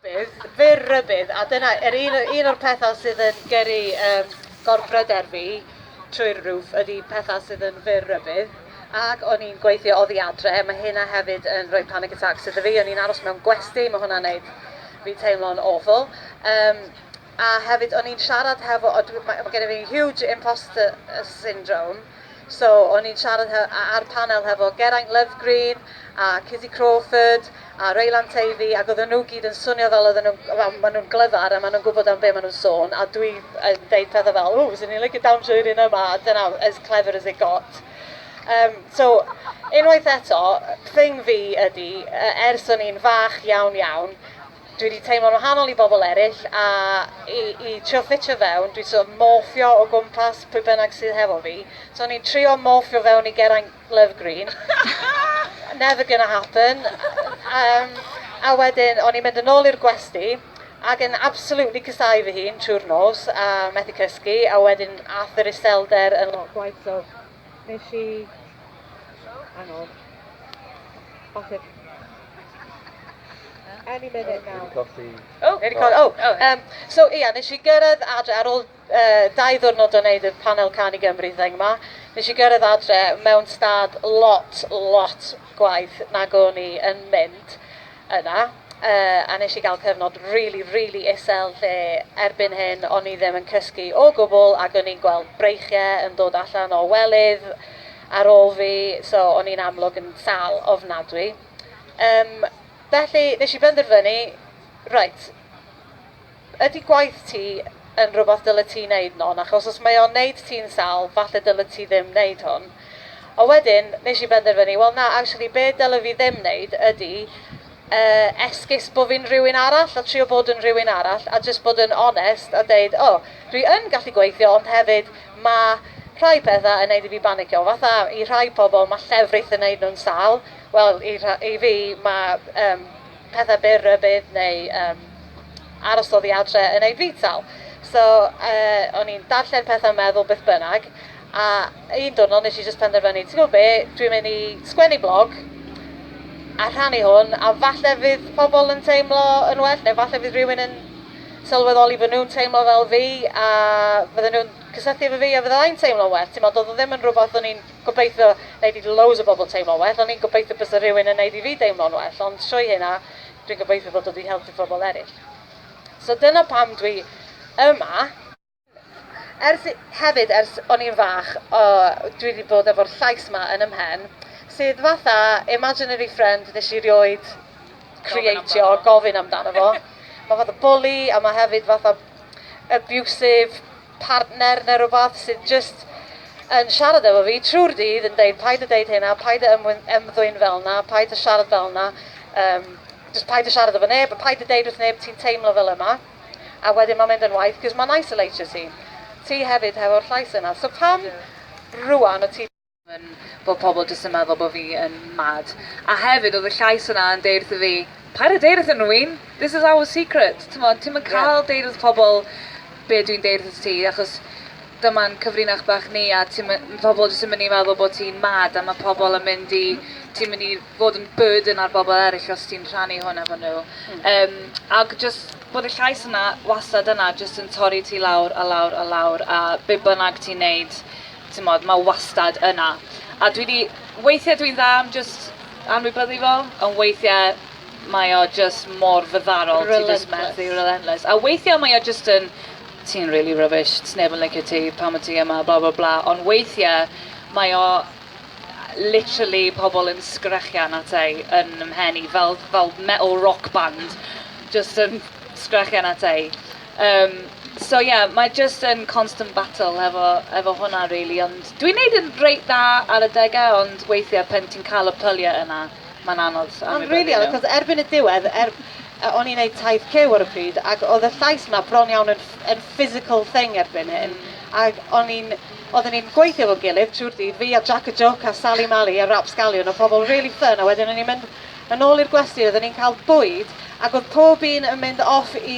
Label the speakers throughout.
Speaker 1: Bydd, fe rybydd, a dyna er un, un o'r pethau sydd yn gyrru um, gorbryder fi trwy'r roof ydy pethau sydd yn fyr rybydd. Ac o'n i'n gweithio oddi adre, mae hynna hefyd yn rhoi panic attack sydd so fi, o'n i'n aros mewn gwesti, mae hwnna'n neud fi teimlo'n awful. Um, A hefyd o'n i'n siarad hefo o dwi ma' ma' genna fi huge imposter syndrome so o'n i'n siarad he- a- ar panel hefo Geraint Lovegreen a Cizzy Crawford a Reylan Teifi ac oedden nhw gyd yn swnio fel oedden nhw'n wel maen nhw'n glyfar a maen nhw'n gwybod am be maen nhw'n sôn a dwi yn deud pethau fel ww fyswn i'n licio dawnsio i'r un yma a dyna as clever as it got. Yym so unwaith eto thing fi ydi yy ers o'n i'n fach iawn iawn Dwi wedi teimlo'n wahanol i bobl eraill a i i trio ffitio fewn dwi'n sort of morffio o gwmpas pwy bynnag sydd hefo fi. So o'n i'n trio morffio fewn i Geraint Love Green. Never gonna happen. Yym a wedyn o'n i'n mynd yn ôl i'r gwesty ac yn absolutely casáu fy hun trwy'r nos a methu cysgu a wedyn aeth yr iselder yn lot gwaeth so wnes i... Hang on. Bach o... Any minute now. Wedi colli. O, wedi colli. O, oh, oh, um, so ia, yeah, nes i gyrraedd adre ar ôl uh, dau ddwrnod o wneud y panel can i Gymru thing yma. Nes i gyrraedd adre mewn stad lot, lot gwaith nag o'n i yn mynd yna. Uh, a nes i gael cyfnod really, really isel lle erbyn hyn o'n i ddim yn cysgu o gwbl ac o'n i'n gweld breichiau yn dod allan o welydd ar ôl fi, so o'n i'n amlwg yn sâl ofnadwy. Um, felly, nes i benderfynu, reit, ydy gwaith ti yn rhywbeth dylai ti wneud non, achos os mae o'n wneud ti'n sal, falle dylai ti ddim wneud hwn. A wedyn, nes i benderfynu, wel na, actually, be dylai fi ddim wneud ydy Yy, esgus bo fi'n rywun arall a trio bod yn rywun arall a jyst bod yn onest a deud o, dwi yn gallu gweithio ond hefyd ma' rhai petha yn neud i fi banicio, fatha i rhai pobl ma' llefrith yn neud nhw'n sâl, wel i rha- i fi ma' yym petha byr rybudd neu yym aros oddi adre yn neud fi'n sâl. So yy o'n i'n darllen petha meddwl beth bynnag, A un diwrnod wnes i jyst penderfynu, ti'n gwybod be, dwi'n mynd i sgwennu blog a rhannu hwn, a falle fydd pobl yn teimlo yn well, neu falle fydd rhywun yn sylweddoli bod nhw'n teimlo fel fi, a fydden nhw'n cysylltu efo fi a fydda i'n teimlo'n well. Timod, oedd o ddim yn rhywbeth o'n i'n gobeithio wneud i loads o bobl teimlo'n well, o'n i'n gobeithio byse rhywun yn wneud i fi deimlo'n well, ond trwy hynna dwi'n gobeithio bod o 'di helpu pobl eraill. So dyna pam dwi yma. Ers, hefyd ers o'n i'n fach yy dwi 'di bod efo'r llais 'ma yn 'y mhen, sydd fatha imaginary friend nes i rioed creatio, gofyn amdano fo. Ma' fatha bwli a ma' hefyd fatha abusive partner ne' rwbath sydd jyst yn siarad efo fi trw'r dydd yn deud paid â deud hyn a paid â ymwyn- ymddwyn fel 'na, paid â siarad fel 'na, yym jyst paid â siarad efo neb a paid â deud wrth neb ti'n teimlo fel yma. a wedyn mae'n mynd yn waeth cos mae'n eisoleitio ti ti hefyd hefo'r llais yna so pam rŵan o ti yn bod pobl jyst yn meddwl bod fi yn mad a hefyd oedd y llais yna yn deud wrtho fi paid a deud wrthyn nhw Wyn this is our secret t'mod ti'm yn cael deud wrth pobl be dwi'n deud wrth ti achos Dyma'n cyfrinach bach ni a ti my- pobl jyst yn mynd i meddwl bod ti'n mad a ma' pobl yn mynd i... ti'n mynd i fod yn burden ar bobl eraill os ti'n rhannu hwn efo nhw. Yym, ac jyst bod y llais yna wastad yna jyst yn torri ti lawr a lawr a lawr a be bynnag ti'n neud, timod, ma' wastad yna. A dwi 'di... weithiau dwi'n dda am jyst anwybyddu fo, ond weithiau mae o jyst mor fyddarol... Relentless. ...ti jyst methu, relentless. A weithiau mae o jyst yn ti'n rili rubbish, sneb yn licio ti pan wyt ti yma bla bla bla ond weithiau mae o literally pobl yn sgrechian ata i yn 'y mhen i fel fel metal rock band jyst yn sgrechian ata i. Yym so ie mae jyst yn constant battle efo efo hwnna rili ond dwi'n neud yn reit dda ar adega ond weithiau pan ti'n cael y pyliau yna mae'n anodd anwybyddu nhw. Ma'n rili anodd 'c'os erbyn y diwedd er A o'n i'n neud taith cyw ar y pryd ac o'dd y llais 'ma bron iawn yn ff- yn physical thing erbyn hyn ag o'n i'n... Odden ni'n gweithio efo'n gilydd trwy'r dydd, fi a Jac y Jwc a Sali Mali a Rapsgalion o' pobol rili ffyn a wedyn o'n ni'n mynd yn ôl i'r gwesty odden ni'n ca'l bwyd ag o'dd pob un yn mynd off i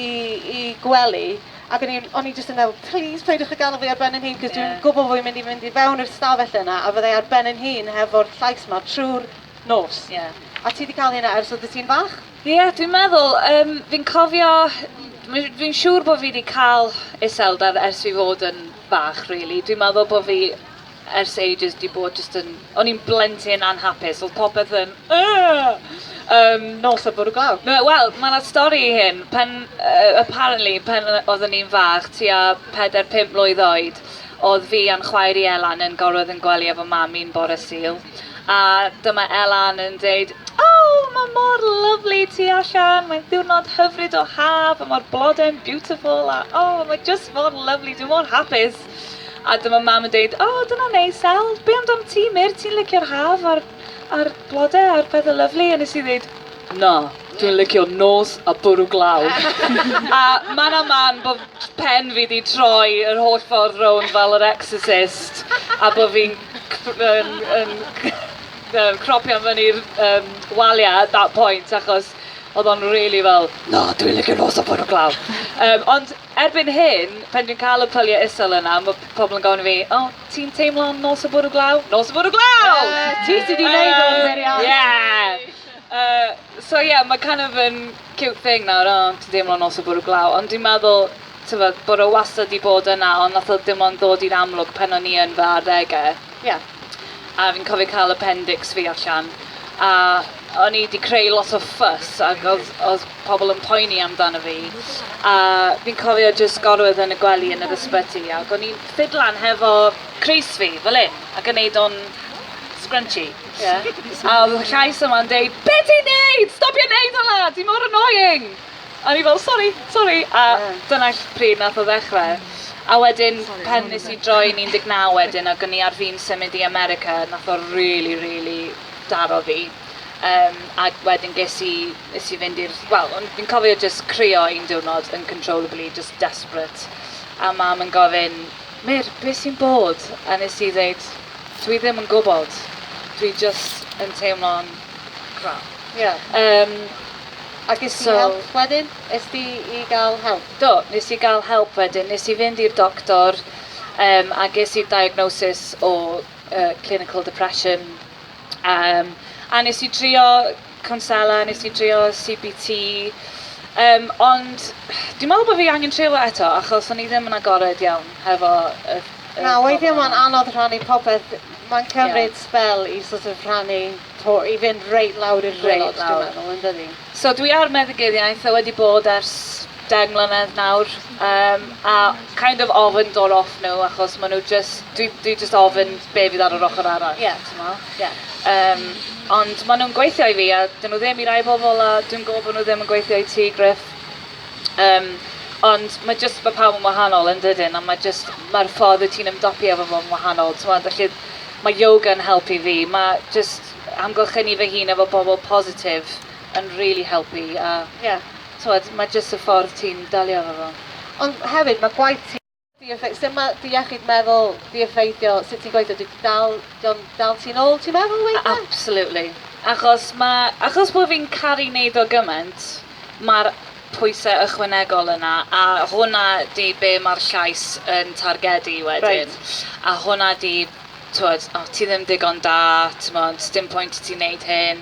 Speaker 1: i gwely ag o'n i'n o'n i jyst yn meddwl 'plîs peidiwch a gad'el fi ar ben 'yn hun' 'c'os dwi'n gwbo bo' fi'n mynd i fynd i fewn i'r stafell yna a fydda i ar ben 'yn hun hefo'r llais 'ma trw'r nos. Ie. A ti 'di ca'l hynna ers oddet ti'n fach? Ie, dwi'n meddwl, um, fi'n cofio, fi'n siŵr bod fi wedi cael iselder ers fi fod yn bach, really. Dwi'n meddwl bod fi ers ages wedi bod jyst yn... O'n i'n blentyn anhapus, oedd popeth yn... Um, nos a bwrw glaw. No, Wel, mae yna stori i hyn. Pen, uh, apparently, pen oeddwn i'n fach, tua 4-5 mlwydd oed, oedd fi a'n chwaer i Elan yn gorwedd yn gwely efo mam i'n bore sil. a dyma Elan yn deud O! Mae mor lyfli tu allan, mae'n ddiwrnod hyfryd o haf a mae'r blodau'n beautiful a o! Mae jyst mor lyfli, dwi mor hapus! A dyma Mam yn deud O! Dyna neis El, be amdan ti Mur, ti'n licio'r haf a'r a'r blodau a'r pethau lyfli? A nes i ddeud Na, dwi'n licio nos a bwrw glaw! a man a man bod pen fi 'di troi yr holl ffordd rownd fel yr Exorcist a bod fi'n yym cropio fyny'r yym walia at that point achos oedd o'n rili fel na dwi'n licio nos o'r bore glaw. Yym ond erbyn hyn pan dwi'n cael y pyliau isel yna mae pobl yn gofyn i fi o ti'n teimlo am nos y bore glaw? Nos y bore glaw! Yy ti sy 'di neud o yn beriod. Ie! Yy so ie ma' kind of yn cute thing nawr o ti'n deimlo nos y bwrw glaw ond dwi'n meddwl t'mod bod o wastad 'di bod yna ond nath o dim ond ddod i'r amlwg pan o'n i yn fy arddege. Ie. A fi'n cofio ca'l appendix fi allan a o'n i 'di creu lot o fuss ag odd odd pobol yn poeni amdano fi a fi'n cofio jyst gorwedd yn y gwely yn yr ysbyty ag o'n i'n ffidlan hefo crys fi fel 'yn ac yn neud o'n scrunchy. Ie. A odd y llais yma'n deud be ti'n neud! Stopia neud hwnna! Ti mor annoying! A o'n i fel sori, sori! A dyna ll- pryd nath o ddechre. A wedyn pan nes i droi'n un deg naw wedyn ag o'n i ar fin symud i America nath o rili rili daro fi. Yym ag wedyn ges i nes i fynd i'r wel o'n fi'n cofio jyst crio un diwrnod uncontrollably jyst desperate a mam yn gofyn Mur, be sy'n bod? A nes i ddeud, dwi ddim yn gwybod, dwi jyst yn teimlo'n crap. Ie. Yym, a ges ti help wedyn? Es di i gael help? Do, nes i gael help wedyn, nes i fynd i'r doctor yym a ges i diagnosis o yy clinical depression yym a nes i trio Cwnsela, nes i drio CBT yym ond dwi'n meddwl bo' fi angen trio fo eto achos o'n i ddim yn agored iawn hefo y y Na profiad weithie yna. ma'n anodd rhannu popeth b- ma'n cymryd... Ie. ...sbel i sort of rhannu to- i fynd reit lawr i'r gwaelod Reit lawr. dwi'n meddwl yndydi? So dwi ar meddyginiaeth a wedi bod ers deng mlynedd nawr yym a kind of ofn dod off nhw achos ma' nw jys dwi dwi jyst ofyn be' fydd ar yr ochor arall. Ie. T'mo'? Ie. Yym ond ma' nw'n gweithio i fi a 'dyn nw ddim i rai pobol a dwi'n gwbo bo' nw ddim yn gweithio i ti Gruff. Yym ond ma' jyst ma' pawb yn wahanol yndydyn a ma' jyst ma'r ffordd wyt ti'n ymdopi efo fo'n wahanol t'mod felly ma' yoga'n helpu fi ma' jyst amgylchynu fy hun efo bobol positif yn rili helpu a... Ie. t'wod ma' jyst y ffordd ti'n delio efo fo. Ond hefyd ma' gwaith ti di effe- sut ma' dy iechyd meddwl di effeithio sut ti'n gweithio? Dwi dal dio'n dal ti nôl ti'n meddwl weithe? Absolutely. Achos ma' achos bo' fi'n caru neud o gyment ma'r pwyse ychwanegol yna a hwnna di be' ma'r llais yn targedu wedyn. Reit. A hwnna di t'wod o ti ddim digon da t'mod sdim pwynt i ti neud hyn.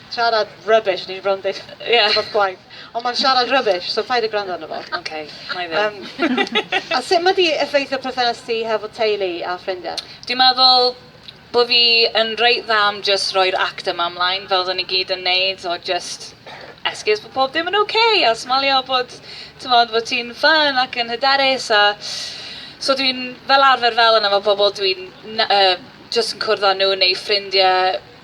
Speaker 1: Siarad rubbish, ni 'di bron deud Ie. ...rwbath gwaeth. Ond ma'n siarad rubbish, so paid a gwrando arno fo. Oce, wnai ddim. Yym, a sut ma' 'di effeithio perthynas ti hefo teulu a ffrindie? Dwi meddwl bo' fi yn reit dda am jyst rhoi'r act yma ymlaen fel oddon ni gyd yn neud o jyst esgus bo' pob dim yn oce a smalio bod t'mod bo' ti'n ffyne ac yn hyderus a so dwi'n fel arfer fel yna efo pobol dwi'n na- yy jyst yn cwrdd â nw neu ffrindie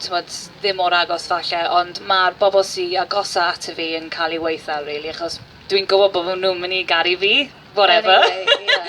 Speaker 1: t'mod, ddim mor agos falle, ond ma'r bobl sy agosa ato fi yn cael ei waetha rili, achos dwi'n gwybod bod nhw'n mynd i garu fi, whatever. Anyway, ie.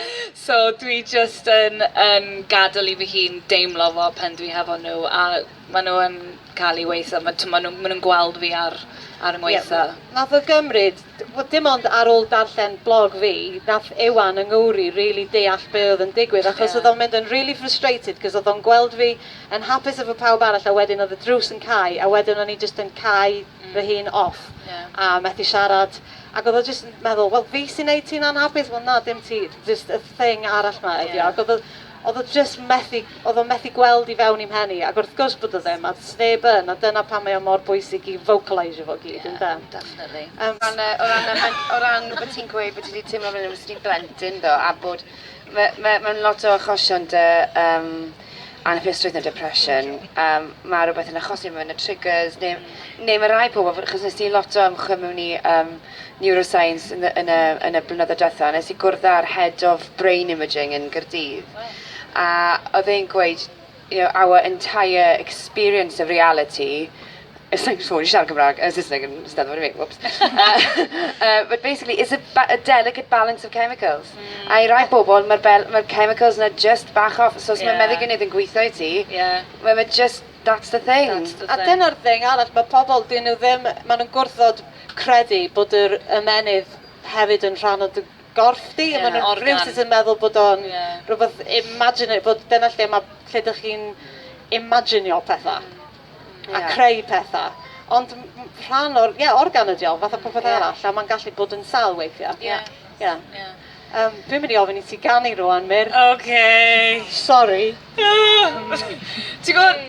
Speaker 1: So dwi jyst yn, yn gadael i fy hun deimlo fo pen dwi hefo nhw, a maen nhw yn cael ei waetha, ma' t'mod nhw, maen nhw'n gweld fi ar, ar 'y ngwaetha. Ie, wnaeth o gymryd dim ond ar ôl darllen blog fi, nath Iwan yng Nghymru rili deall be' oedd yn digwydd achos oedd o'n mynd yn rili frustrated 'c'os oedd o'n gweld fi yn hapus efo pawb arall a wedyn oedd y drws yn cau a wedyn o'n i jyst yn cau hmm. fy hun off a methu siarad ac oedd o jyst yn meddwl wel fi sy'n neud ti'n anhapus wel na dim ti jyst y thing arall 'ma ydi o ac oedd Oedd o jyst methu, oedd o methu gweld i fewn i'm mhen i, ac wrth gwrs bod o ddim, a does neb yn, a dyna pam mae o mor bwysig i vocalisio fo gyd, ynde? Ie, definitely. Yym. O ran y, o ran y, mae'n, o ran bod ti'n gweud bod ti wedi teimlo fel os ti'n blentyn ddo, a bod, mae, mae, mae'n lot o achosion dy um, anhapusrwydd neu depression, um, mae rhywbeth yn achosi mewn y triggers, neu, neu mae rai pobl, achos nes ti lot o ymchwil mewn i um, Neuroscience yn y yn y blynyddoedd diwetha', nes i gwrdd â'r Head of Brain Imaging yn Gaerdydd, a oedd e'n gweud, you know, our entire experience of reality, sa i'n siŵr i siarad Cymraeg, yy Saesneg yn Steddfod i fi, whoops, yy but basically it's a ba- a delicate balance of chemicals. Hmm. A i rai bobl ma'r bel- ma'r chemicals 'na jyst bach off, so os ma'... Ie. ...meddyginiaeth yn gwitho i ti... Ie. ...we- ma' jyst, that's the thing. That's the thing. A dyna'r thing arall, ma' pobl, 'dyn nhw ddim, ma' nhw'n gwrthod credu bod yr ymennydd hefyd yn rhan o dy gorff di. Yeah, ma' nhw'n organ. rhywsut yn meddwl bod o'n yeah. rhywbeth imaginary, bod dyna lle mae lle dych chi'n imaginio pethau mm. a creu pethau. Ond rhan o'r, ie, yeah, organ ydi o, fath o popeth yeah. arall, a mae'n gallu bod yn sal weithiau. Ie. Yeah. Yeah. Yeah. Um, dwi'n mynd i ofyn i ti ganu rwan, Myr. OK. Sorry. Ti'n gwybod,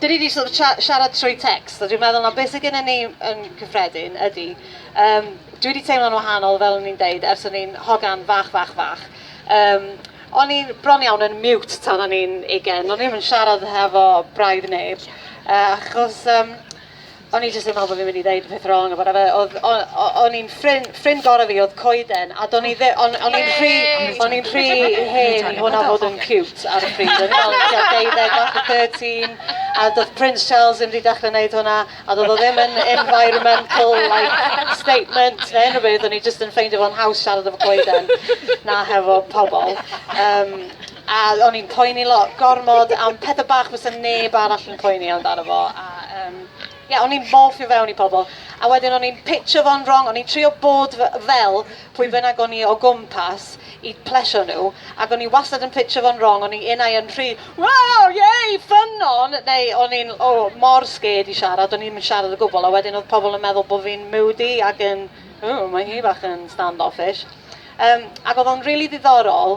Speaker 1: Dyn ni 'di sort of siarad trwy text, a dwi'n meddwl na beth sydd gennym ni yn cyffredin ydy, um, dwi wedi teimlo'n wahanol, fel o'n i'n deud, ers o'n i'n hogan fach, fach, fach. Um, o'n i'n bron iawn yn mute tan o'n i'n ugen, o'n i'n siarad hefo braidd neb, uh, achos um, O'n i jyst yn meddwl bo' fi'n mynd i ddeud y peth wrong or whatever odd o- o- o'n i'n ffrin- ffrind gore fi odd coeden a do'n i ddi- o'n o'n i'n rhy o'n i'n rhy hen i hwnna fod yn ciwt ar y pryd o'n i me'wl o'n i tua deuddeg fath o thirteen a do'dd Prince Charles ddim 'di dechre neud hwnna a do'dd o ddim yn environmental like statement ne' unryw beth o'n i jyst yn ffeindio fo'n haws siarad efo coeden na hefo pobol yym A o'n i'n poeni lot, gormod am pethau bach fysa neb arall yn poeni amdano fo. A um, yeah, o'n i'n morffio fewn i pobl. A wedyn o'n i'n pitcho fo'n wrong, o'n i'n trio bod fel pwy bynnag o'n i o gwmpas i plesio nhw. Ac o'n i wastad yn pitcho fo'n wrong, o'n i unau yn rhy, wow, yay, ffynon! Neu o'n i'n oh, mor sged i siarad, o'n i'n siarad o gwbl. A wedyn oedd pobl yn meddwl bod fi'n moody ac yn, oh, mae hi bach yn stand-offish. Um, ac oedd o'n rili really ddiddorol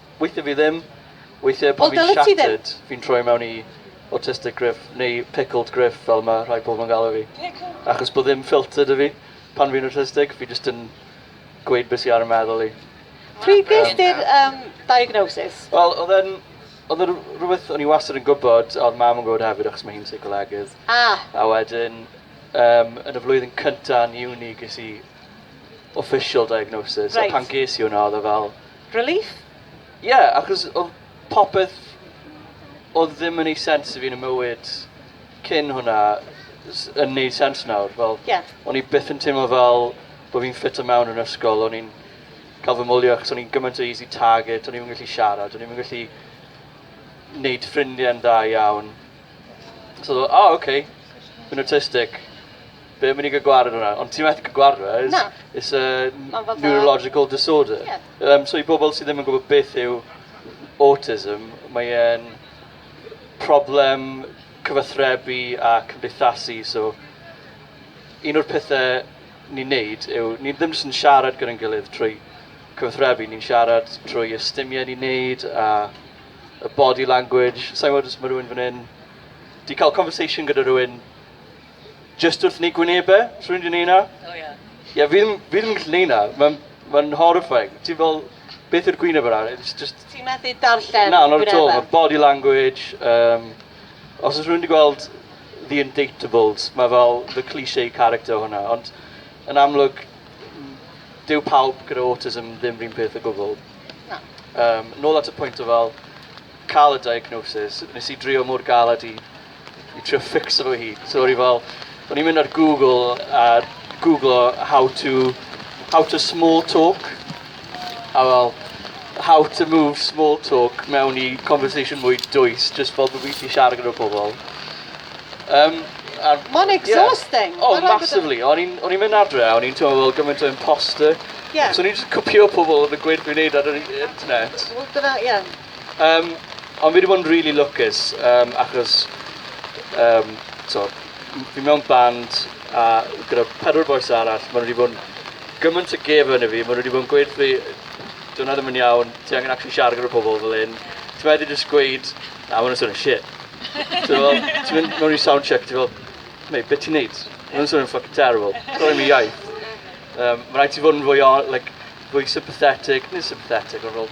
Speaker 1: Weithiau fi ddim. Weithiau pan fi'n shattered, fi'n troi mewn i autistic griff neu pickled griff fel mae rhai pobl yn galw fi. Achos bod ddim ffilter dy fi pan fi'n autistic, fi jyst yn gweud beth sy'n ar y meddwl i. Pryd ges ti'r um, diagnosis? Wel, oedd e'n oedd e'n rhywbeth o'n i wastad yn gwybod, a oedd mam yn gwybod hefyd achos mae hi'n seicolegydd. Ah. A wedyn, um, yn y flwyddyn cyntaf yn uni ges i official diagnosis. Right. A pan ges i hwnna, oedd e fel, Relief? Ie, achos oedd popeth oedd ddim yn ei sens i fi yn y mywyd cyn hwnna yn neud sens nawr. Fel, yeah. O'n i byth yn teimlo fel bod fi'n ffit o mewn yn ysgol. O'n i'n cael fy mwlio achos o'n i'n gymaint o easy target. O'n i'n gallu siarad. O'n i'n gallu neud ffrindiau'n dda iawn. So, oh, okay. Fi'n autistic. Be am i ni gael gwared hwnna? Ond ti methu cael gwared hwnna. It's, Na. it's a Ma'n fatha- neurological disorder. Ie. Um, so i bobl sydd ddim yn gwybod beth yw autism, mae e'n problem cyfathrebu a cymdeithasu. So un o'r pethau ni'n neud yw, ni ddim jyst yn siarad gyda'n gilydd trwy cyfathrebu, ni'n siarad trwy ystumiau ni'n neud a y body language. Sa'n gwybod os mae rhywun fan hyn... Di cael conversation gyda rhywun jyst wrth yn ei gwyneb e, rhywun wedi neud 'na? O ie. Ie, fi ddim, fi ddim yn gallu neud 'na, ma'n, ma'n horrifying. Ti'n fel, beth yw'r gwyneb yna? It's just... Ti'n methu darllen gwynebau? Na, not at all, ma'r body language, um, os oes rhywun wedi gweld The Indatables, mae fel the cliché character hwnna, ond yn amlwg, dyw pawb gyda autism ddim rhywun peth o gwbl. Na. Um, nôl at y pwynt o fel cael y diagnosis, nes i drio mor galed i I trio ffixo fo hi. So o'n i fel, o'n i'n mynd ar Google a googlo how to, how to small talk. A fel, how to move small talk mewn i conversation mwy dwys, just fel bod fi wedi siarad gyda pobl. Um, ar... Mae'n exhausting. Yeah. Oh, massively. O'n i'n mynd adre a o'n i'n teimlo fel gymaint o imposter. Yeah. So o'n i'n just cwpio pobl oedd yn gweud fi'n neud ar yr internet. Wel, dyna, ie. Yeah. Yym, ond fi 'di bod yn rili lwcus yym achos yym t'o' m- fi mewn band a gyda pedwar bois arall ma' nw 'di bod 'n gymaint o gefn i fi ma' nw 'di bod yn gweud wrth fi dyw wnna ddim yn iawn ti angen actually siarad gyda pobol fel 'yn ti methu jyst gweud na ma' wnna'n swnio'n shit. Ti me'wl ti mynd mewn i sound check ti fel mate be' ti'n neud? Ma' wnna'n swnio'n ffycin terrible. T'mo' dim iaith. Yym ma' raid ti fod yn fwy o- like fwy sympathetic nid sympathetic on' fel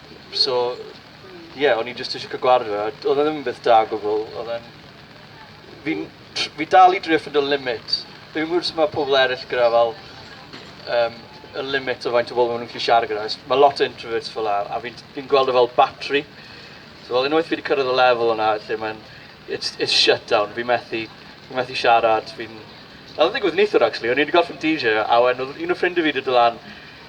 Speaker 1: So, ie, yeah, o'n i jyst eisiau cael gwared fe. Oedd e ddim yn beth da gwbl. Oedd e'n... Fi'n... Fi dal i drio ffind o limit. Fi'n gwybod sut mae pobl eraill gyda fel... Um, y limit o faint o bobl maen nhw'n gallu siarad gyda. Mae lot o introverts fel la, a fi'n fi gweld o fel battery. So, fel unwaith fi wedi cyrraedd y lefel yna, lle mae'n... It's, it's shut down. Fi'n methu, fi methu siarad. Fi'n... Oedd yn digwydd neithwr, actually. O'n i wedi gorffen DJ, a wen, oedd un o ffrindiau fi wedi dylan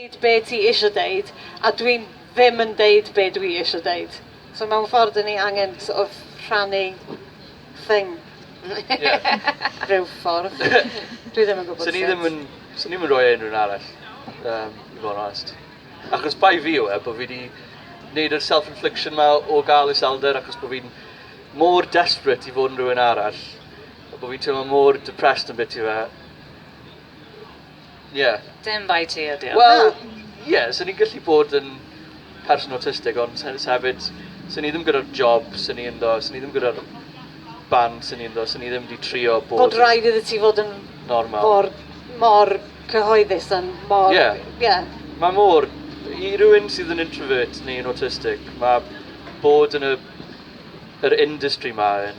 Speaker 1: deud be ti isio deud a dwi ddim yn deud be dwi isio deud. So mewn ffordd dyn ni angen sort of rhannu thing. Ie. Rhyw ffordd. Dwi ddim yn gwybod sut. Swn i ddim yn, swn i'm yn rhoi e i unrhyw un arall, yym, i fod yn onest. Achos bai fi yw e, bod fi 'di neud yr self-infliction 'ma o gael iselder achos bod fi'n mor desperate i fod yn rhywun arall, a bod fi'n teimlo mor depressed am biti fe, Ie. Dim bai ti ydi o. Wel, ie, 'sen i'n gallu bod yn person awtistig ond se- se hefyd, 'sen i ddim gyda'r job 'sen i ynddo, 'sen i ddim gyda'r band 'sen i ynddo, 'sen i ddim 'di trio bod yn... Bod rhaid iddi ti fod yn... Normal. ...mor, mor cyhoeddus yn mor... Ie. Ie. Mae mor... I rywun sydd yn introvert neu yn awtistig, mae bod yn y yr industry 'ma yn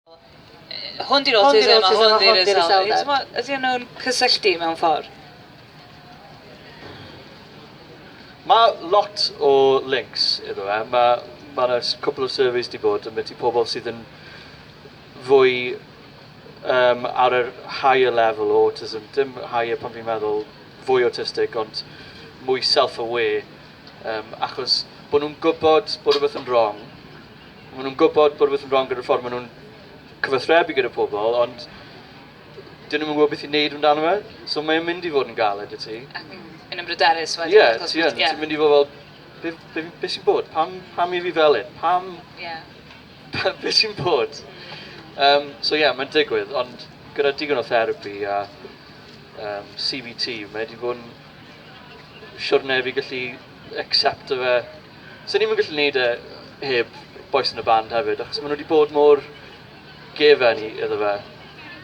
Speaker 1: Hwn 'di'r autism a hwn 'di'r iselder. T'mo', ydyn nhw'n cysylltu mewn ffordd? Mae lot o links iddo fe. Mae, mae yna cwpl o surveys wedi bod yn beth i pobl sydd yn fwy um, ar yr higher level o autism, dim higher pan fi'n meddwl fwy autistic, ond mwy self-aware, um, achos bod nhw'n gwybod bod rhywbeth yn wrong, Maen nhw'n gwybod bod rhywbeth yn wrong gyda'r ffordd maen nhw'n cyfathrebu gyda pobl, ond dyn nhw'n gwybod beth i wneud amdano fe, so mae'n mynd i fod yn galed i ti. Ac yn ymryderus wedyn. Ie, yeah, ti yn. Yeah. Ti'n mynd i fod fel, be, be, be sy'n bod? Pam, pam i fi fel un? Pam? Ie. Yeah. be sy'n bod? Um, so ie, yeah, mae'n digwydd, ond gyda digon o therapi a um, CBT, mae wedi bod yn siwrne fi gallu accepto fe 'Sen ni'm yn gallu neud e heb bois yn y band hefyd achos ma' nhw 'di bod mor gefen i iddo fe.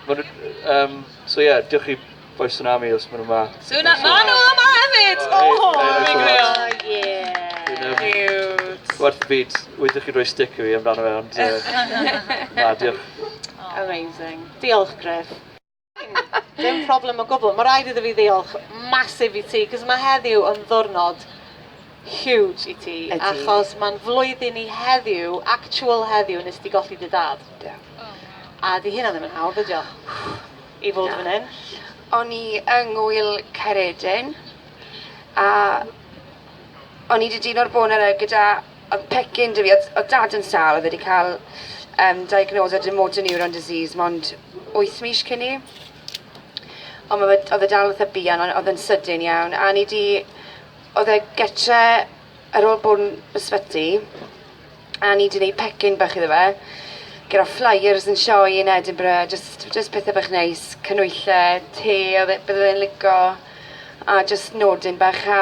Speaker 1: Ma' nhw yym so ie diolch i Bois Tsunami os ma' nhw 'ma. Suna- ma' nhw yma hefyd! O! Hei, hei, hei, Fi'n hei, grêt. O ie. Dwi'n yym... Ciwt. Werth y byd. Weithie chi'n rhoi stick i fi amdano fe ond yy na diolch. Amazing. Diolch Gruff. Dim problem o gwbl. Ma' raid iddo fi ddiolch massive i ti 'c'os ma' heddiw yn ddwrnod huge i ti. Ydi. Achos ma'n flwyddyn i heddiw, actual heddiw nes di golli dy dad. Do. A 'di hynna ddim yn hawdd ydi o? I fod Na. fan 'yn. O'n i yng ngŵyl Caeredin a o'n i 'di dino'r bore 'na gyda Odd pecyn 'da fi odd odd dad yn sâl odd e 'di ca'l yym diagnosis gyda motor neuron disease mond wyth mis cyn 'ny. Ond ma' fe odd e dal fatha buan on' odd e'n sydyn iawn a o'n i 'di odd e gytre ar ôl bod yn ysbyty a o'n i 'di neud pecyn bach iddo fe gyda flyers yn sioe yn Edinburgh jyst jyst pethe bach neis, canwylle, te odd e bydde fe'n lico a jyst nodyn bach a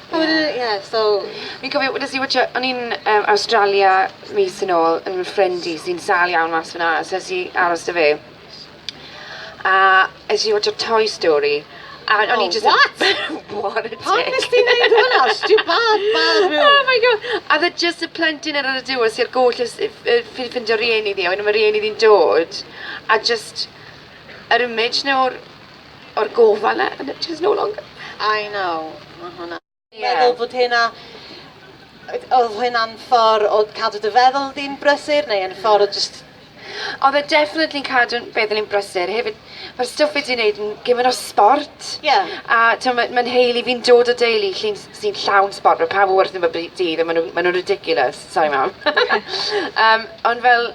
Speaker 1: Wel ie so fi'n cofio wnes i watsio... o'n i'n yym Awstralia mis yn ôl yn fy ffrind i sy'n sâl iawn mas fan'na so es i aros 'da fe a es i watsio Toy Story a o'n i jyst... O what? What a dick. Pam wnest ti neud hwnna? Stiwbad mawr rhyw. Oh my go- a o'dd e jyst y plentyn ar ar y diwedd sy a'r goll ys- yy yy ffi- ffindio rieni ddi a wedyn ma' rieni ddi'n dod a jyst yr image 'na o'r o'r gofal 'na and it is no longer. I know. Ma' hwnna... Ie. ...meddwl fod hynna oedd hynna'n ffordd o cadw dy feddwl di'n brysur neu yn ffordd o jyst... Oedd e definitely yn cadw feddwl i'n brysur. Hefyd, mae'r stwff fi 'di wneud yn gymaint o sbort. Ie. A timod, mae mae nheulu fi'n dod o deulu llun- sy'n llawn sbort. Mae pawb yn wrthym bob dydd a maen nhw'n maen nhw'n ridiculous. Sori Mam. Yym, ond fel,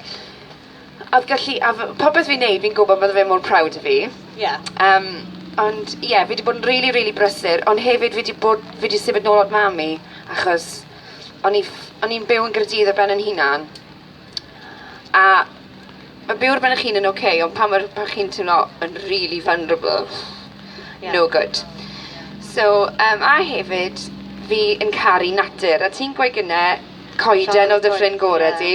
Speaker 1: A oedd gallu... A f- popeth fi'n neud fi'n gwybod bydde fe mor proud o fi. Ie. Yym, ond ie, fi wedi bod yn rili, rili brysur, ond hefyd fi wedi bod... Fi wedi symud nôl at mam i, achos o'n i ff- o'n i'n byw yn Gaerdydd ar ben yn hunan. A ma' byw ar ben eich hun yn ocê, ond pan mae'r... pan chi'n teimlo yn rili vulnerable, Ie. no good. So, yym, a hefyd, fi yn caru natur, a ti'n gweud gynne, coeden oedd dy ffrind gore di.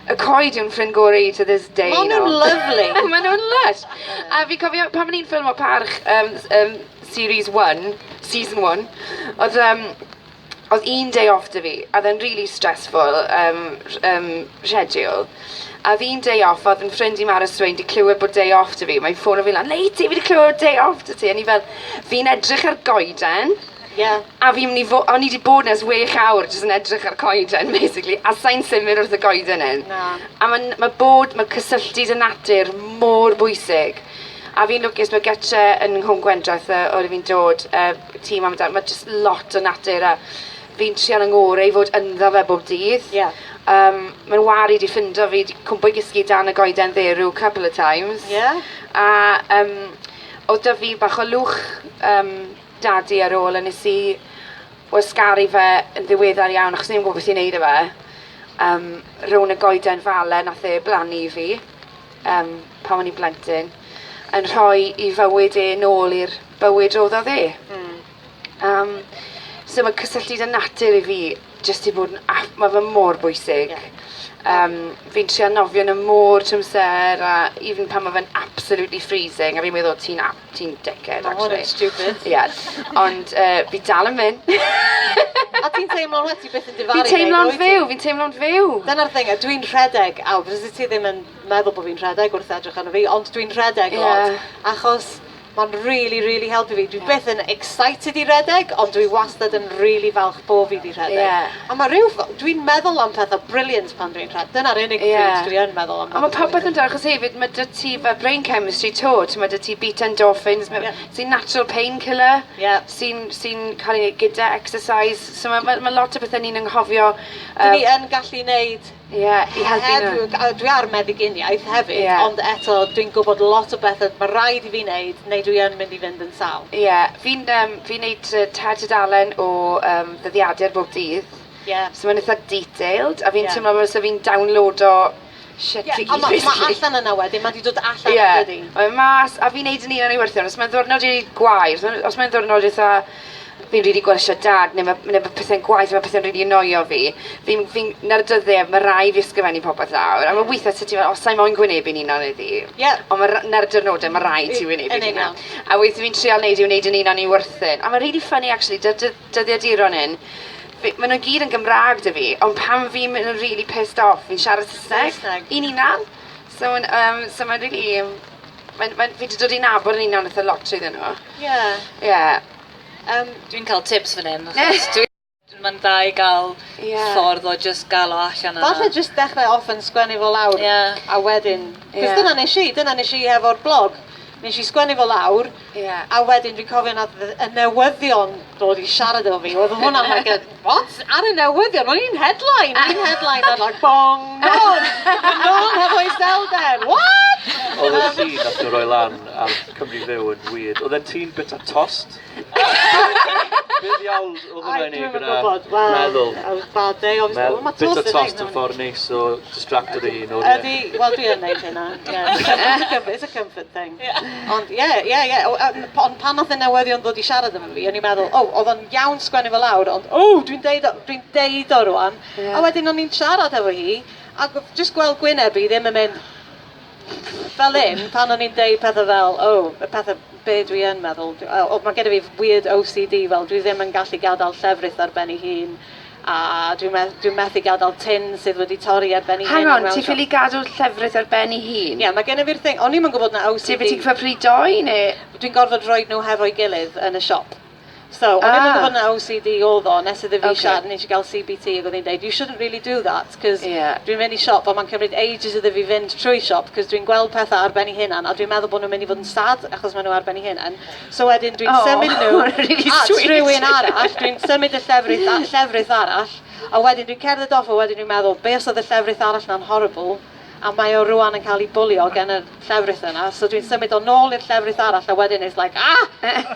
Speaker 1: Y coed yw'n ffrind gorau i to this day. Maen nhw'n lyfli. Maen nhw'n lysh. A fi cofio pan o'n i'n ffilm o parch um, um, series 1, season 1, oedd, um, oedd un day off dy fi, a oedd e'n really stressful um, um, schedule. A oedd un day off, oedd yn ffrind i Mara Swain di clywed bod day off dy fi, mae'n ffôn o fi lan, Leiti, fi di clywed day off dy ti, a ni fel, fi'n edrych ar goeden, Ie. A fi myn' i fo- o'n i 'di bod 'na ers wech awr jyst yn edrych ar coeden basically a sai'n symud wrth y goeden hyn. Na. A ma'n ma' bod ma' cysylltu 'da natur mor bwysig. A fi'n lwcus ma' gytre yn Nghwm Gwendraeth yy o le fi'n dod yy tŷ mam a dad ma' jyst lot o natur a fi'n trial 'y ngore i fod ynddo fe bob dydd. Ie. Yym ma' Wari 'di ffindo fi 'di cwmpo i gysgu dan y goeden dderw couple of times. Ie. A yym odd 'da fi bach o lwch yym Dadi ar ôl a nes i wasgaru fe yn ddiweddar iawn achos o'n i 'im yn gwbod beth i neud 'da fe. Yym rown y goeden fale nath e blannu i fi yym pan o'n i'n blentyn yn rhoi 'i fywyd e nôl i'r bywyd roddodd e. Hmm. Yym so ma' cysylltu 'da natur i fi jyst i fod yn aff, mae fe mor bwysig. Yeah. Um, fi'n trio nofio yn y môr tymser, a even pan mae fe'n absolutely freezing, a fi'n meddwl ti'n ti dickhead, oh, actually. Oh, stupid. yeah. Ond uh, fi dal yn mynd. a ti'n teimlo'n wedi beth yn difaru? Fi'n teimlo'n fyw, fi'n teimlo'n fyw. Dyna'r thing, dwi'n rhedeg, a fyddi ti ddim yn meddwl bod fi'n rhedeg wrth edrych arno fi, ond dwi'n rhedeg yeah. lot, achos Mae'n rili rili helpu fi. Dwi byth yn excited i redeg ond dwi wastad yn rili falch bo' fi 'di rhedeg. Ie. A ma' ryw ff- dwi'n meddwl am petha brilliant pan dwi'n rhe- dyna'r unig... Ie. ...pryd dwi yn meddwl am... A ma' popeth yn da achos hefyd ma' 'dy ti fel brain chemistry 'to t'mod 'dy ti beta endorphins ma'... Ie. ...sy'n natural pain killer. Ie. Sy'n sy'n ca'l 'i neud gyda exercise so ma' ma' ma' lot o bethe ni'n anghofio yy... 'Dyn ni yn gallu neud Ie, i helpu nhw. Oherwydd, a dwi ar meddyginiaeth hefyd... Ie. ...ond eto, dwi'n gwybod lot o bethe ma' raid i fi neud neu dwi yn mynd i fynd yn sâl. Ie, fi'n yym fi'n neud yy tair tudalen o yym dyddiadur bob dydd. Ie. So ma'n itha detailed a fi'n... Ie. ...teimlo fel 'se fi'n downloado shit i gyd basically. Ie, on' ma' ma' allan yna wedyn, ma' 'di dod allan... Ie. ...yndydi? Mae e mas a fi'n neud yn union ei werthion. Os mae'n ddiwrnod rili gwael, os ma' os mae'n ddiwrnod itha fi'n rili gwarsio dad ne' ma' ne' ma' pethe'n gwaeth ma' pethe'n rili annoio fi fi'n fi'n 'na'r dyddie ma' rai' fi ysgrifennu popeth lawr a ma' withe ti fel o sai moyn gwynebu'n unan heddi. Ie. On' ma' ra- 'na'r dirnode ma' raid ti wynebu dy unan. Yn union. A withe fi'n trial neud yw neud yn unan i wyrthyn. A ma'n rili ffyni actually 'da'r dy- dyddiaduron 'yn fi ma' nw gyd yn Gymra'g 'da fi on' pan fi'n myn' yn rili pissed off fi'n siarad Sysneg. Saesneg. I'n unan. So yn yym so ma'n rili Mae'n, mae'n, fi wedi dod i nabod yn un o'n eitha lot iddyn nhw. Ie. Yeah. Ie. Yeah. Um, Dwi'n cael tips fan hyn, achos dwi... Mae'n dda i gael yeah. ffordd o just gael o allan yna. Falle just dechrau off yn sgwennu fo lawr, yeah. a wedyn... Cos yeah. dyna nes i, dyna nes i hefo'r blog. Nes i sgwennu fo lawr, Ie, a wedyn dwi'n cofio nath y y newyddion dod i siarad efo fi, oedd hwnna'n like a what? Ar y newyddion, o'n i'n headline, o'n i'n headline ar like bong, non, non hefo iselder, what? Oedd y llun nath nhw roi lan ar Cymru Fyw yn weird, oedden ti'n bita tost? Be ddiawl? Oedden nhw yn ei gyda meddwl. Bit o tost yn ffordd neis o distracto dy hun o ie. Ydy, wel dwi yn neud hynna, ie. It's a comfort thing. Ond ie, ie, ie. Ond pan nath y newyddion ddod i siarad efo fi, o'n i'n meddwl, o, odd o'n iawn sgwennu fo lawr, ond o, dwi'n deud o, dwi'n deud o rŵan. A wedyn o'n i'n siarad hefo hi, ac jyst gweld gwyneb hi ddim yn mynd, fel hyn, pan o'n i'n deud pethe fel, o, y pethe be' dwi yn meddwl, dw- yy o ma' gennyf fi weird OCD fel dwi ddim yn gallu gadael llefrith ar ben ei hun, a dwi meth- dwi methu gadael tin sydd wedi torri ar ben ei hun... Hang on, ti ffili gadw llefrith ar ben ei hun? Ie, ma' gennyf fi'r thing, o'n i'm yn gwbod na OCD... Ti wedi cyfri dou ne'? Dwi'n gorfod rhoid nhw hefo'i gilydd yn y siop. So, o'n i'n meddwl bod yna OCD oedd o, nes iddo fi siarad, nes i gael CBT, ac oedd hi'n dweud, you shouldn't really do that, cos dwi'n mynd i siop a mae'n cymryd ages iddo fi fynd trwy siop, cos dwi'n gweld pethau ar ben ei hunan, a dwi'n meddwl bod nhw'n mynd i fod yn sad, achos maen nhw ar ben ei hunan. So wedyn dwi'n symud nhw at rhywun arall, dwi'n symud y llefrith, llefrith arall, a wedyn dwi'n cerdded off, a wedyn dwi'n meddwl, be os oedd y llefrith arall na'n horrible, a mae o rwan yn cael ei bwlio gen y llefrith yna, so dwi'n symud o nôl i'r llefrith arall, a wedyn it's like, ah!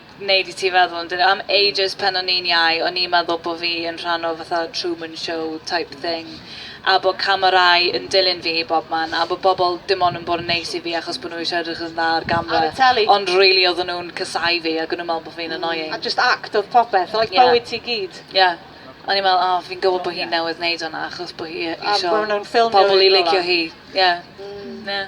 Speaker 1: neud i ti feddwl amdano. Am ages pan o'n i'n iau, o'n i'n meddwl bod fi yn rhan o fatha Truman Show type hmm. thing. A bod camerâu yn dilyn fi i bob man. A bod bobl dim ond yn bod yn neis i fi achos bod nhw eisiau edrych yn dda ar gamera. Ar y teli. Ond really oedden nhw'n cysau fi ac o'n nhw'n meddwl bod fi'n annoying. A just act oedd popeth, oedd yeah. bywyd ti gyd. Ie. Yeah. O'n i'n meddwl, oh, fi'n gwybod bod hi'n yeah. newydd wneud hwnna achos bod hi eisiau pobl i licio hi. Ie. Yeah. Mm. Yeah.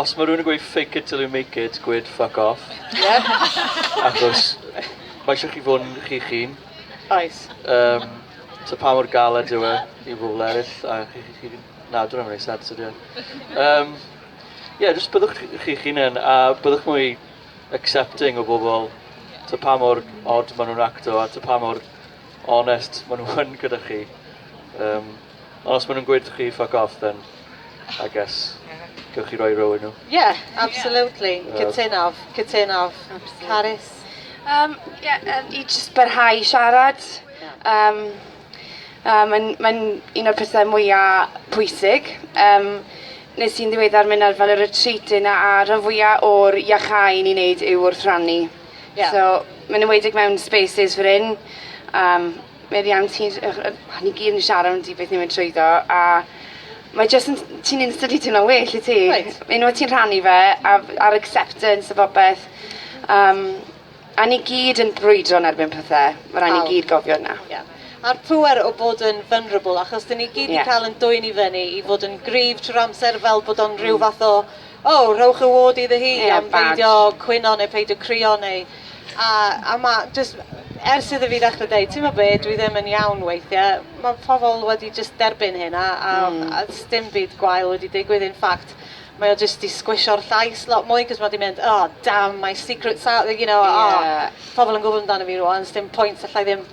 Speaker 1: Os mae rhywun yn gweud fake it till you make it, gweud fuck off. Yep. Achos mae eisiau chi fod yn chi'ch hun. Oes. Um, so pa mor galed yw e i bobl eraill, a chi, chi, chi na, dwi'n rhaid sens ydy. Um, ie, yeah, jyst byddwch chi'ch hunain, a byddwch mwy accepting o bobl, ta pa mor odd maen nhw'n acto, a ta pa mor onest maen nhw'n gyda chi. Um, Ond os maen nhw'n gweud chi fuck off then I guess gewch chi roi row i nhw. Ie, absolutely. Cytunof, cytunof. Carys? Um, yeah, um, I just barhau i siarad. Um, um, Mae'n mae un o'r pethau mwyaf pwysig. Um, nes i'n ddiweddar mynd ar fel y retreat yna a rhan fwyaf o'r iachau ni'n neud yw wrth rannu. Yeah. So, mae'n ymwedig mewn spaces fy ryn. Um, meddiant hi yy yy ni gyd yn siarad amdano beth ni'n mynd trwyddo a mae jyst yn ti'n instantly teimlo'n well wyt ti? Wyt. Unwaith ti'n rhannu fe a f- a'r acceptance a popeth yym a ni gyd yn brwydro yn erbyn pethe. Ma' rai' ni Pawb. gyd gofio wnna. Ie. A'r pŵer o bod yn vulnerable achos 'dyn ni gyd 'di Ie. ca'l 'yn dwyn i fyny i fod yn gryf trw'r amser fel bod o'n rhyw fath o O, rhowch y ward iddo hi am peidio cwyno neu peidio crio neu... A, a ma' jyst, ers iddo fi ddechre deud, t'mo' be', dwi ddim yn iawn weithie, ma' pobol wedi jyst derbyn hyn a a a sdim byd gwael wedi digwydd in fact mae o jyst 'di sgwisio'r llais lot mwy 'c'os ma' 'di mynd oh damn my secret's out there you know oh pobol yn gwbo amdano fi rŵan sdim pwynt allai ddim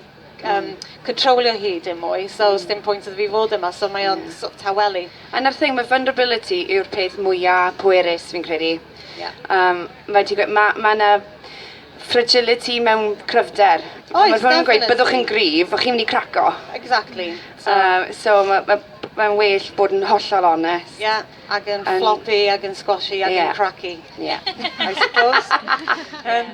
Speaker 1: yym controlio hi dim mwy so hmm. sdim pwynt iddo fi fod yma so mae o'n yeah. sort of tawelu. A 'na'r thing mae vulnerability yw'r peth mwya pwerus fi'n credu. Yeah. Um, mae ti'n gweud ma' ma' 'na fragility mewn cryfder. Oes, Mae rhywun yn gweud byddwch chi'n gryf, o'ch chi'n mynd i craco. Exactly. So, Um, so mae ma' mae'n well bod yn hollol onest. Yeah, ac yn floppy, ac yn squashy, ac yn cracky. Yeah. I suppose. um,